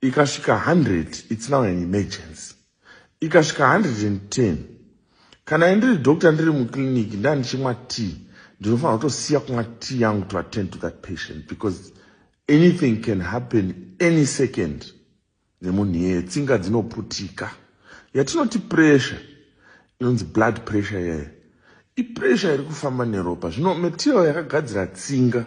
ikasvika 100 its now an emergency ikasvika 110 kana indiri doctor ndiri muclinic ndandichimwa tea ndinofanira kutosiya kumwa tea yangu to attend to that patient because anything can happen any second nemunhu iyeye tsinga dzinoputika yatinoti pressure inonzi blood pressure iyeye ipressure iri kufamba neropa zvino material yakagadzira tsinga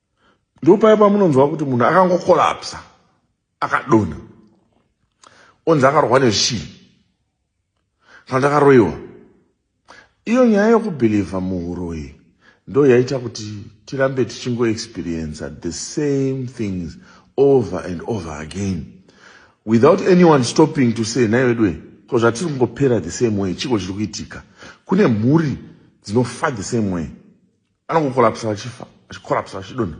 Ndopaya pamunonzwa kuti munhu akangokolapsa akadonha onzi akarwa neshii kana kuti akaroiwa. Iyo nyaya yokubhilivha muuroyi ndo yaita kuti tirambe tichingoexperiensa the same things over and over again without anyone stopping to say nhai veduwe ko zvatiri kungopera the same way chiko chiri kuitika kune mhuri dzinofa the same way anongokorapsa vachifa achikorapsa vachidonha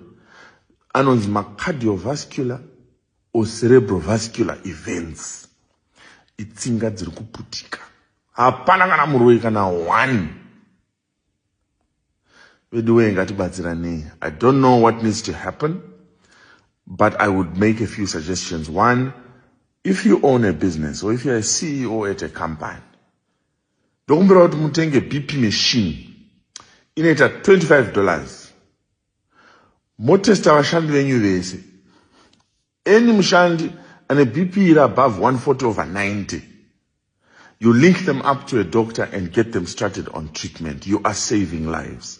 anonzi macardiovascular or cerebrovascular events itsinga dziri kuputika hapana kana muroyi kana one vedu wee ngatibatsiranei i don't know what needs to happen but i would make a few suggestions one if you own a business or if youare a ceo at a company Ndokumbira kuti mutenge BP machine inoita 25 dollars motesta vashandi venyu vese. Any mushandi ane BP iri above 140 over 90 you link them up to a doctor and get them started on treatment. You are saving lives.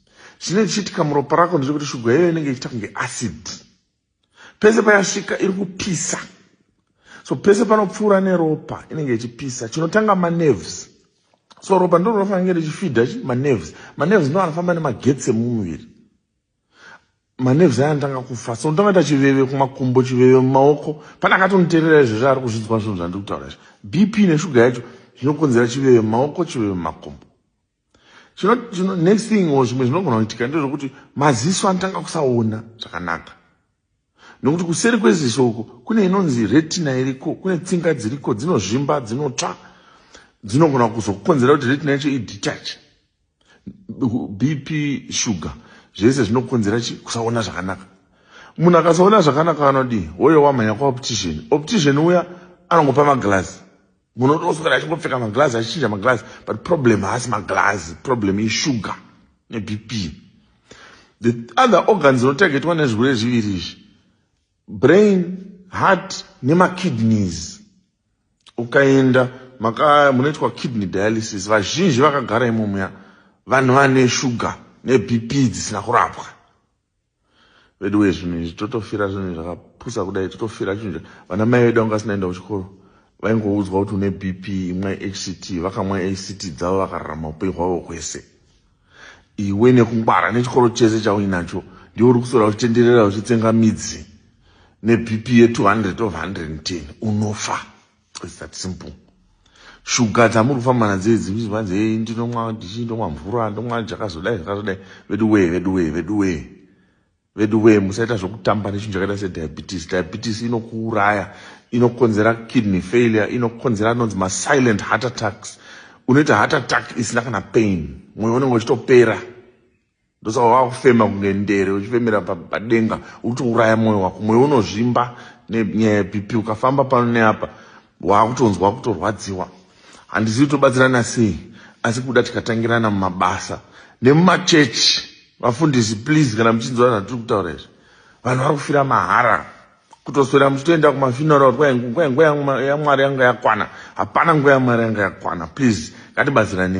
Chinenge chichiitika muropa rako ndechekuti shuga iyoyo inenge ichiita kunge acid. Pese payasvika iri kupisa. So pese panopfuura neropa inenge ichipisa. Chinotanga manerves. So ropa ndiro rinofanira richifidha chi manerves. Manerves ndiwo anofamba nemagetsi emumuviri. Manerves aya anotanga kufa. So unotanga kuita chiveve kumakumbo, chiveve mumaoko. Pane akatoniterera izvezvi ari kuzvinzwa zvinhu zvandiri kutaura izvi. BP neshuga yacho zvinokonzera chiveve mumaoko, chiveve mumakumbo. Chino, chino, next thing or zvimwe zvinogona kuitika ndezvekuti maziso anotanga kusaona zvakanaka nokuti kuseri kweziso uko kune inonzi retina iriko kune tsinga dziriko dzinozvimba dzinotsva dzinogona kuzokukonzera kuti retina yacho idetache bp sugar zvese zvinokonzera chi kusaona zvakanaka munhu akasaona zvakanaka anodii woyo wamhanya kwaoptician optician uya anongopa maglazi munotoswera achingopfeka maglazi achichinja maglazi but problem haasi maglazi problem ishuga nebp the other organs inotargetwa nezvirwere zviviri izvi brain heart nemakidneys ukaenda maka munoitwa kidney dialysis vazhinji vakagara imomuya vanhu vane shuga nebp dzisina kurapwa veduwe zvinhu izvi totofira zvinhu zvakapusa kudai totofira chinhu vana mai vedu vanga vasinaenda kuchikoro vaingoudzwa kuti une bp imwai hct vakamwa hct dzavo vakararama upenyu hwavo hwese iwe nekungwara nechikoro chese chauinacho ndiwo uri kusora uchitenderera uchitsenga midzi nebp ye 200 of 110 unofa It's that simple. Shuga dzamuri kufamba nadzo idzi kuti vanzi hey ndinomwa ndichi ndomwa mvura ndomwa chakazodai zvakazodai vedu wee vedu wee vedu wee vedu wee musaita zvokutamba nechinhu chakaita sediabetes diabetes inokuuraya inokonzera kidney failure inokonzera anonzi masilent heart attacks unoita heart attack isina kana pain mwoyo unenge uchitopera ndosaka wakufema kunge ndere uchifemera padenga utouraya mwoyo wako mwoyo unozvimba nenyaya yebp ukafamba pano neapa waakutonzwa kutorwadziwa handizivi tobatsirana sei asi kuda tikatangirana mumabasa nemumachechi vafundisi please kana muchinzwa zvatiri kutaura izvi vanhu vari kufira mahara kutoswera muchitoenda kumafinora kuti kwainguva yangu yamwari yanga yakwana hapana nguva yamwari yanga yakwana please ngatibatsiranei